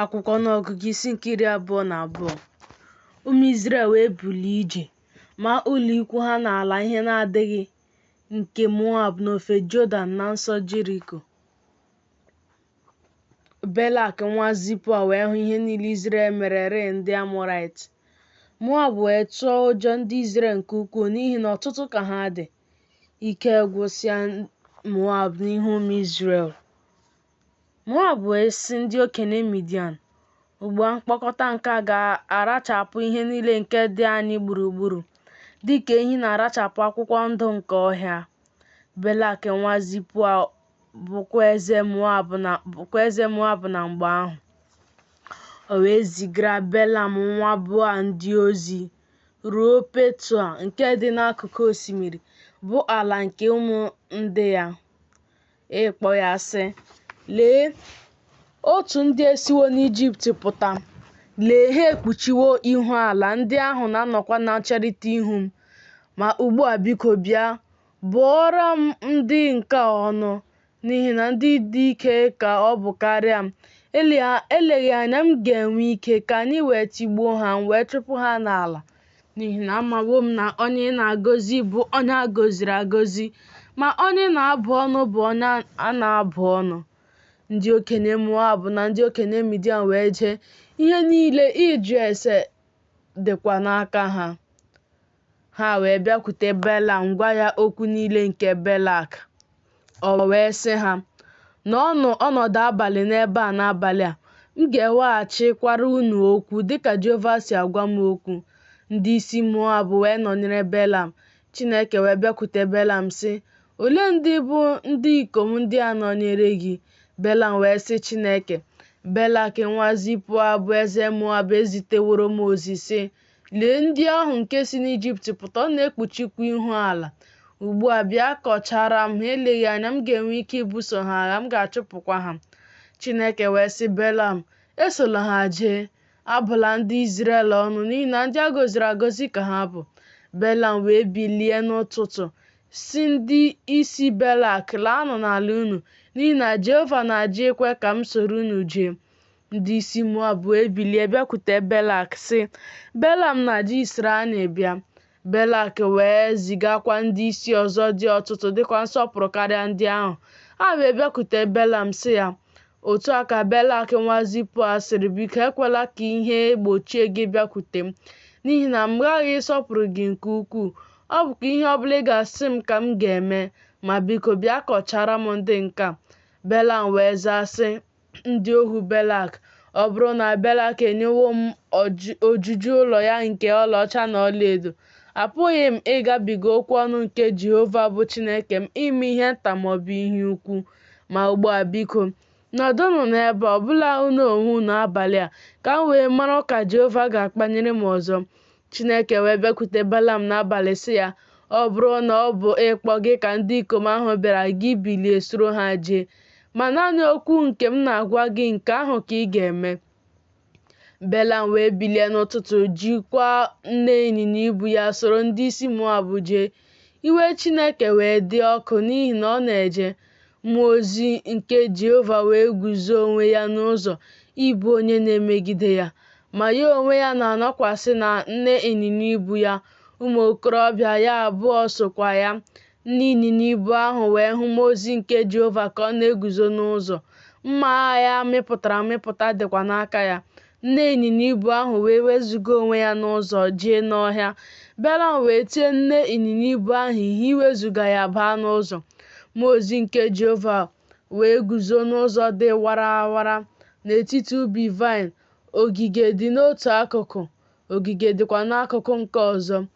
akwụkwọ ọnụ ọgụgụ isi nke iri abụọ na abụọ ụmụ Izrel wee bulie ije maa ụlọ ikwu ha n'ala ihe na-adịghị nke Moab n'ofe Jọdan na nso Jeriko Belak nwa Zipoa wee hụ ihe niile Izrel merere ndị Amọrait Moab wee tụọ ụjọ ndị Izrel nke ukwuu n'ihi na ọtụtụ ka ha dị ike wee gwụsịa Moab n'ihu ụmụ Izrel Moab wee sị ndị okenye Midian, Ugbu a mkpọkọta nke a ga-arachapụ ihe niile nke dị anyị gburugburu, dị ka ehi na-arachapụ akwụkwọ ndụ nke ọhịa. Belak nwa Zipoa bụkwa eze Moab na mgbe ahụ. O wee zigara Belam nwa Beoa ndị ozi ruo Petua nke dị n'akụkụ osimiri, bụ ala nke ụmụ ndị ya. ịkpọ ya sị lee otu ndị esiwo n'ijipt pụta lee ha ekpuchiwo ihu ala ndị ahụ na-anọkwa na ncherịta ihu m ma ugbu a biko bịa bụọra m ndị nke a ọnụ n'ihi na ndị dị ike ka ọ bụ karịa m eleghị anya m ga-enwe ike ka anyị wee tigbuo ha m wee chụpụ ha n'ala N'ihi na amawo m na onye ị na-agọzi bụ onye a gọziri agọzi, ma onye ị na-abụ ọnụ bụ onye a na-abụ ọnụ. Ndị okenye Moab na ndị okenye Midian wee jee, ihe niile ịjụ ese dịkwa n'aka ha. Ha wee bịakwute Belam gwa ya okwu niile nke Belak. O wee sị ha, Nọọnụ ọnọdụ abalị n'ebe a n'abalị a, m ga-eweghachikwara unu okwu dịka Jehova si agwa m okwu. Ndị isi Moab wee nọnyere Belam. Chineke wee bịakwute Belam sị, Olee ndị bụ ndị ikom ndị a nọnyere gị? Belam wee sị Chineke, Belak nwa Zipoa bụ eze Moab eziteworo m ozi sị, Lee ndị ahụ nke si n'Ijipt pụta, ọ na-ekpuchikwa ihu ala. Ugbu a bịa kọchara m ha, eleghị anya m ga-enwe ike ibuso ha agha, m ga-achụpụkwa ha. Chineke wee sị Belam, Esola ha jee, abụla ndị Izrel ọnụ, n'ihi na ndị a gọziri agọzi ka ha bụ. Belam wee bilie n'ụtụtụ, sị ndị isi Belak, Laanụ n'ala unu, n'ihi na Jehova na-ajụ ikwe ka m soro unu jee. Ndị isi Moab wee bilie bịakwute Belak sị, Belam na-ajụ isoro anyị bịa. Belak wee zigakwa ndị isi ọzọ dị ọtụtụ dịkwa nsọpụrụ karịa ndị ahụ. Ha wee bịakwute Belam sị ya, Otu a ka Belak nwa Zipoa sịrị, Biko ekwela ka ihe gbochie gị ịbịakwute m, n'ihi na m ghaghị ịsọpụrụ gị nke ukwuu. Ọ bụkwa ihe ọ bụla ị ga-asị m ka m ga-eme, ma biko bịa kọchara m ndị nke a. Belam wee zaa sị, ndị ohu Belak, ọ bụrụ na Belak enyewo m ojuju ụlọ ya nke ọlaọcha na ọlaedo, apụghị m ịgabiga okwu ọnụ nke Jehova bụ Chineke m ime ihe nta ma ọ bụ ihe ukwu. Ma ugbu a, biko, nọdụnụ n'ebe ọ bụla unu onwe unu abalị a, ka m wee mara ka Jehova ga-akpanyere m ọzọ. Chineke wee bịakwute Belam n'abalị sị ya, Ọ bụrụ na ọ bụ ịkpọ gị ka ndị ikom ahụ bịara, gị bilie soro ha jee, ma naanị okwu nke m na-agwa gị nke ahụ ka ị ga-eme. Belam wee bilie n'ụtụtụ jikwa nne ịnyịnya ibu ya soro ndị isi Moab jee. Iwe Chineke wee dị ọkụ n'ihi na ọ na-eje. Mmụọ ozi nke Jehova wee guzo onwe ya n'ụzọ ịbụ onye na-emegide ya, ma ya onwe ya na-anọkwasị na nne ịnyịnya ibu ya, ụmụ okorobịa ya abụọ sokwa ya. Nne ịnyịnya ibu ahụ wee hụ mmụọ ozi nke Jehova ka ọ na-eguzo n'ụzọ, mma agha ya mịpụtara amịpụta dịkwa n'aka ya. Nne ịnyịnya ibu ahụ wee wezuga onwe ya n'ụzọ jee n'ọhịa. Belam wee tie nne ịnyịnya ibu ahụ ihe iwezuga ya baa n'ụzọ. Mmụọ ozi nke Jehova wee guzo n'ụzọ dị warawara n'etiti ubi vaịn, ogige dị n'otu akụkụ, ogige dịkwa n'akụkụ nke ọzọ.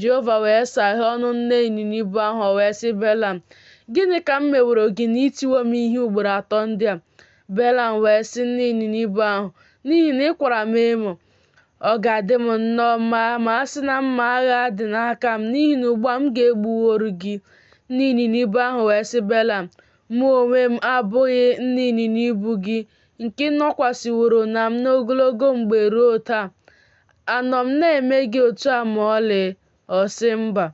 Jehova wee saghee ọnụ nne ịnyịnya ibu ahụ, o wee sị Belam, Gịnị ka m meworo gị na i tiwo m ihe ugboro atọ ndị a? Belam wee sị nne ịnyịnya ibu ahụ, N'ihi na ị kwara m emo. Ọ ga-adị m nnọọ mma ma a sị na mma agha dị n'aka m, n'ihi na ugbu a m ga-egbuworu gị. Nne ịnyịnya ibu ahụ wee sị Belam, Mụ onwe m abụghị nne ịnyịnya ibu gị, nke ị nọkwasịworo na m n'ogologo mgbe ruo taa? Anọ m na-eme gị otu a ma ọlị? Ọ sị, Mba.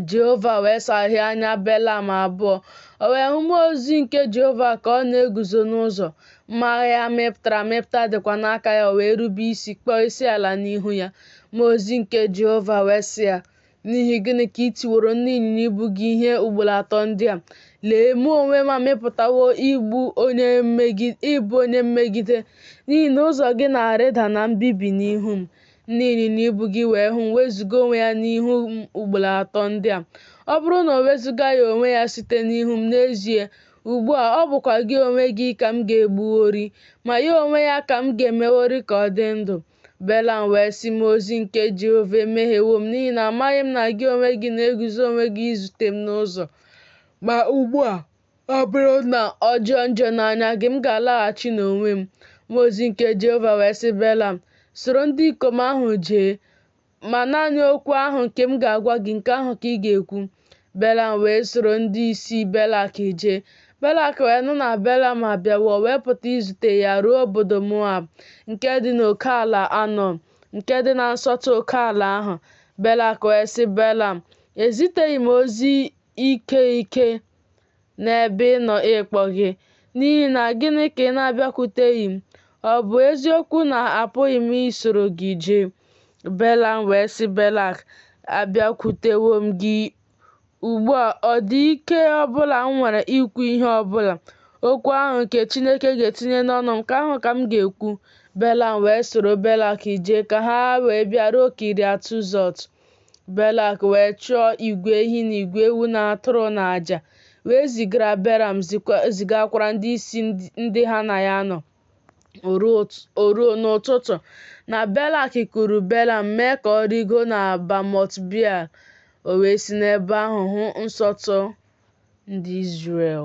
Jehova wee saghee anya Belam abụọ. O wee hụ mmụọ ozi nke Jehova ka ọ na-eguzo n'ụzọ, mma agha ya mịpụtara amịpụta dịkwa n'aka ya, o wee rube isi kpọọ isi ala n'ihu ya. Mmụọ ozi nke Jehova wee sị ya, N'ihi gịnị ka i tiworo nne ịnyịnya ibu gị ihe ugboro atọ ndị a? Lee, mụ onwe m amịpụtawo ịbụ onye mmegide, n'ihi na ụzọ gị na-arịda na mbibi n'ihu m. Nne ịnyịnya ibu gị wee hụ m wezuga onwe ya n'ihu m ugboro atọ ndị a. Ọ bụrụ na o wezugaghị onwe ya site n'ihu m n'ezie, ugbu a ọ bụkwa gị onwe gị ka m ga-egbuworị, ma ya onwe ya ka m ga-emeworị ka ọ dị ndụ. Belam wee sị mmụọ ozi nke Jehova, emehiewo m, n'ihi na amaghị m na gị onwe gị na-eguzo onwe gị izute m n'ụzọ. Ma ugbu a, ọ bụrụ na ọ jọọ njọ n'anya gị, m ga-alaghachi n'onwe m. Mmụọ ozi nke Jehova wee sị Belam, Soro ndị ikom ahụ jee. Ma naanị okwu ahụ nke m ga-agwa gị, nke ahụ ka ị ga-ekwu. Belam wee soro ndị isi Belak jee. Belak wee nụ na Belam abịawo wee pụta izute ya ruo obodo Moab nke dị n'okeala Anọn, nke dị na nsọtụ okeala ahụ. Belak wee sị Belam, Eziteghị m ozi ike ike n'ebe ị nọ ịkpọ gị, n'ihi na gịnị ka ị na-abịakwuteghị m? Ọ bụ eziokwu na apụghị m isoro gị jee? Belam wee sị Belak, Abịakwutewo m gị ugbu a, ọ dị ike ọ bụla m nwere ikwu ihe ọ bụla. Okwu ahụ nke Chineke ga-etinye n'ọnụ m, nke ahụ ka m ga-ekwu. Belam wee soro Belak jee ka ha wee bịaruo Kiriat Huzọt. Belak wee chụọ igwe ehi na igwe ewu na atụrụ n'aja, wee zigara Belam zigakwara ndị isi ndị ha na ya nọ. O ruo n'ụtụtụ na Belak kuru Belam mee ka ọ rigo na Bamot Beal, o wee si n'ebe ahụ hụ nsọtụ ndị Izrel.